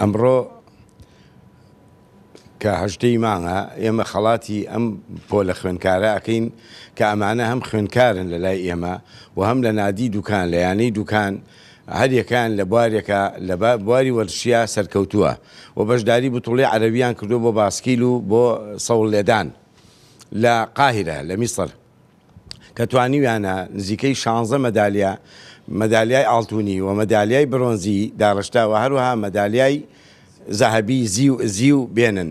ئەمڕۆ کە هەژدەی مانگە ئێمە خەڵاتی ئەم پۆلە خوێندکارە ئەکەین کە ئەمانە هەم خوێندکارن لە لای ئێمە و هەم لە نادی دوکان لە یانەی دوکان هەریەکان لە بوارێکە لە بواری وەرشیا سەرکەوتووە و بەشداری بتوڵی عەرەویان کردو بۆ باسکیل و بۆ سەوڵ لێدان لە قاهرە لە میسر کە توانیویانە نزیکەی شانزە مەدالیا، مەدالیای ئاڵتونی و مەدالیای برۆنزی داڕشتە و هەروەها مەدالیای زەهەبی زیو بێنن.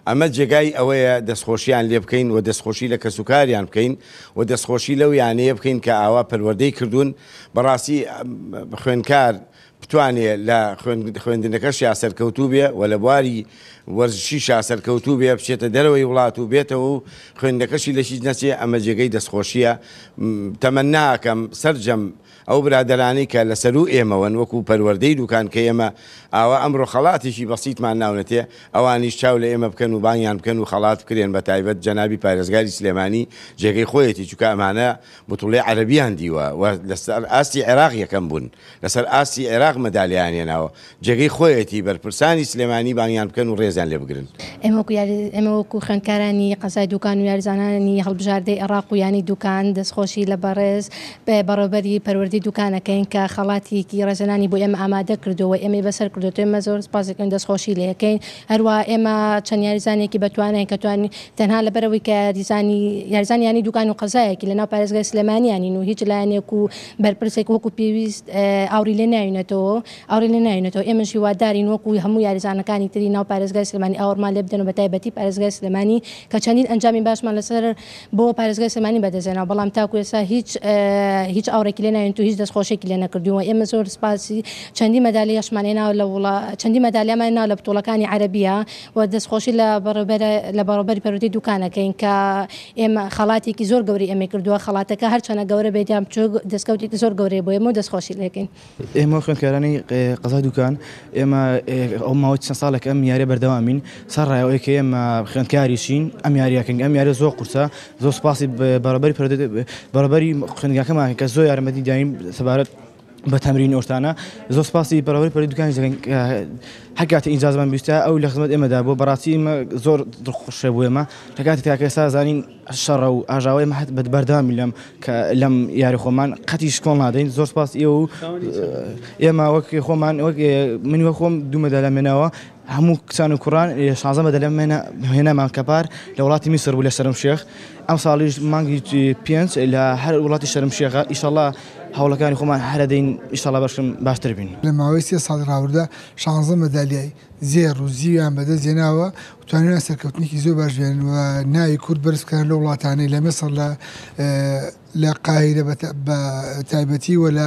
ئەمە جێگای ئەوەیە دەستخۆشییان لێ بکەین و دەستخۆشی لە کەسوکاریان بکەین و دەستخۆشی لەو یانەیە بکەین کە ئاوا پەروەردەی کردوون، بەڕاستی خوێندکار بتوانێ لە خوێندنەکەشیا سەرکەوتوو بێ و لە بواری وەرزشیشا سەرکەوتوو بێ، بچێتە دەرەوەی وڵات و بێتەوە و خوێندنەکەشی لە هیچ نەچێ، ئەمە جێگەی دەستخۆشییە. تەمەننا ئەکەم سەرجەم ئەو برادەرانەی کە لە سەروو ئێمەوەن وەکوو پەروەردەی دووکان کە ئێمە ئاوا ئەمڕۆ خەڵاتێکی بەسیتمان ناونەتێ، ئەوانیش چاو لە ئێمە بکەن و بانگیان بکەن و خەڵات بکرێن، بە تایبەت جەنابی پارێزگاری سلێمانی جێگەی خۆیەتی، چونکە ئەمانە بتوڵی عەرەبیان دیوە و لەسەر ئاستی عێراق یەکەم بوون، لەسەر ئاستی عێراق مەدالیایان هێناوە، جێگەی خۆیەتی بەرپرسانی سلێمانی بانگیان بکەن و رێزیان لێ بگرن. ئێمە وەکو خوێندکارانی قەزای دوکان و یاریزانانی هەڵبژاردەی ئەراق و یانەی دوکان دەستخۆشی لە بەڕێز بەڕێوبەری پەروەردەی دوکان ئەکەین کە خەڵاتیکی رێزلێنانی بۆ ئێمە ئامادە کردووە و ئێمەی بەسەر کردۆتەوە، ئێمە زۆر سپاسی ئەکەین و دەستخۆشی لێ ئەکەین، هەروەها ئێمە چەند یاریزانێکی بەتواناین کە توانین تەنها لەبەرئەوەی کە یاریزانی یاریزانی یانەی دوکان و قەزایەکی لەناو پارێزگای سلێمانییە نین و هیچ لایەنێک و بەرپرسێک وەکو پێویست ئاوری لێ ناوینەتەوە ئاوری لێ ناوینەتەوە ئێمەش هیوادارین وەکو هەموو یاریزانەکانی تری ناو پارێزگای سلێمانی ئاوڕمان لێ بدەن و بەتایبەتی پارێزگای سلێمانی کە چەندین ئەنجامی باشمان لەسەر بۆ پارێزگای سلێمانی بەدەستهێناوە بەڵام تاکو ئێستا هیچ هیچ ئاوڕێکی لێ ناوینێت و هیچ دەستخۆشیەکی لێ نەکردوین و ئێمە زۆر سپاسی چەندین مەدالیاشمان هێناوە لە وڵا چەندین مەدالیامان هێناوە لە بتوڵەکانی عەرەبییە و دەستخۆشی لە بەڕێوبەرە لە بەڕێوبەری پەروەردەی دوکان ئەکەین کە ئێمە خەڵاتێکی زۆر گەورەی ئێمەی کردووە خەڵاتەکە هەرچەنە گەورە بێت یان بچووک دەستکەوتێکی زۆر گەورەیە بۆ ئێمە و دەستخۆشی لێ ئەکەین. ئێمە خوێندکارانی قەزای دوکان ئێمە ئەو ماوەی چەند ساڵێک ئەم یاریە بەردەوامین سەرڕای ئەوەی کە ئێمە خوێندکاریشین ئەم یاریە کەین ئەم یاریە زۆر قورسە زۆر سوپاسی بەڕێوبەری پەروەردە بەڕێوبەری خوێندنگاکەمان کە زۆر یارمەتی داین سەبارەت بە تەمرین ئەو شتانە زۆر سپاسی بەڕێوەبەری پۆلی دوکانیش دەکەین کە هەر کاتێ ئینجازمان بیستە ئەو لە خزمەت ئێمەدا بووە بەڕاستی ئێمە زۆر دڵخۆشە بۆ ئێمە لە کاتی تاکە ئێستا زانین شەڕە و ئاژاوەی ئێمە هەر بەردەوامی لەم کە لەم یاری خۆمان قەتیش کۆڵ نادەین زۆر سپاس ئێوە و ئێمە وەک خۆمان وەک من وەک خۆم دوو مەدالیام هێناوە هەموو کچان و کوڕان لە شانزە مە دەلە مێنە هێنامان کە پار لە وڵاتی میسر بوو لە شەرم شێخ ئەم ساڵیش مانگی پێنج لە هەر وڵاتی شەرم شێخە ئیشەڵا هەوڵەکانی خۆمان هەرەدەین ئیشەڵا بەشم باشتر بین. لە ماوەی سێ ساڵی ڕابردوودا شانزە مەدالیای زێڕ و زیویان بەدەست هێناوە و توانیویانە سەرکەوتنێکی زۆر باش بهێنن و ناوی کورد بەرز بکەنە لەو وڵاتانەی لە میسر لە لە قاهیرە بە بە تایبەتی و لە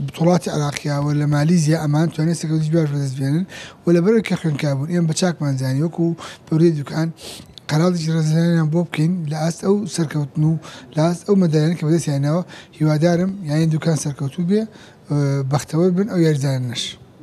بتوڵاتی عراقیا و لە مالیزیا ئەمان توانێ سەکەوتی جواش بەدەست بێنن و لە بەرەوەی کە خوێنکار بوون ئێمە بە چاکمان زانی وەکو پەروەی دوکان قەراڵێکی ڕێزلێنانیان بۆ بکەین لە ئاست ئەو سەرکەوتن و لە ئاست ئەو مەدالیانەی کە بەدەستیان هێناوە هیوادارم یانەی دوکان سەرکەوتوو بێ بەختەوەر بن ئەو یاریزانانەش.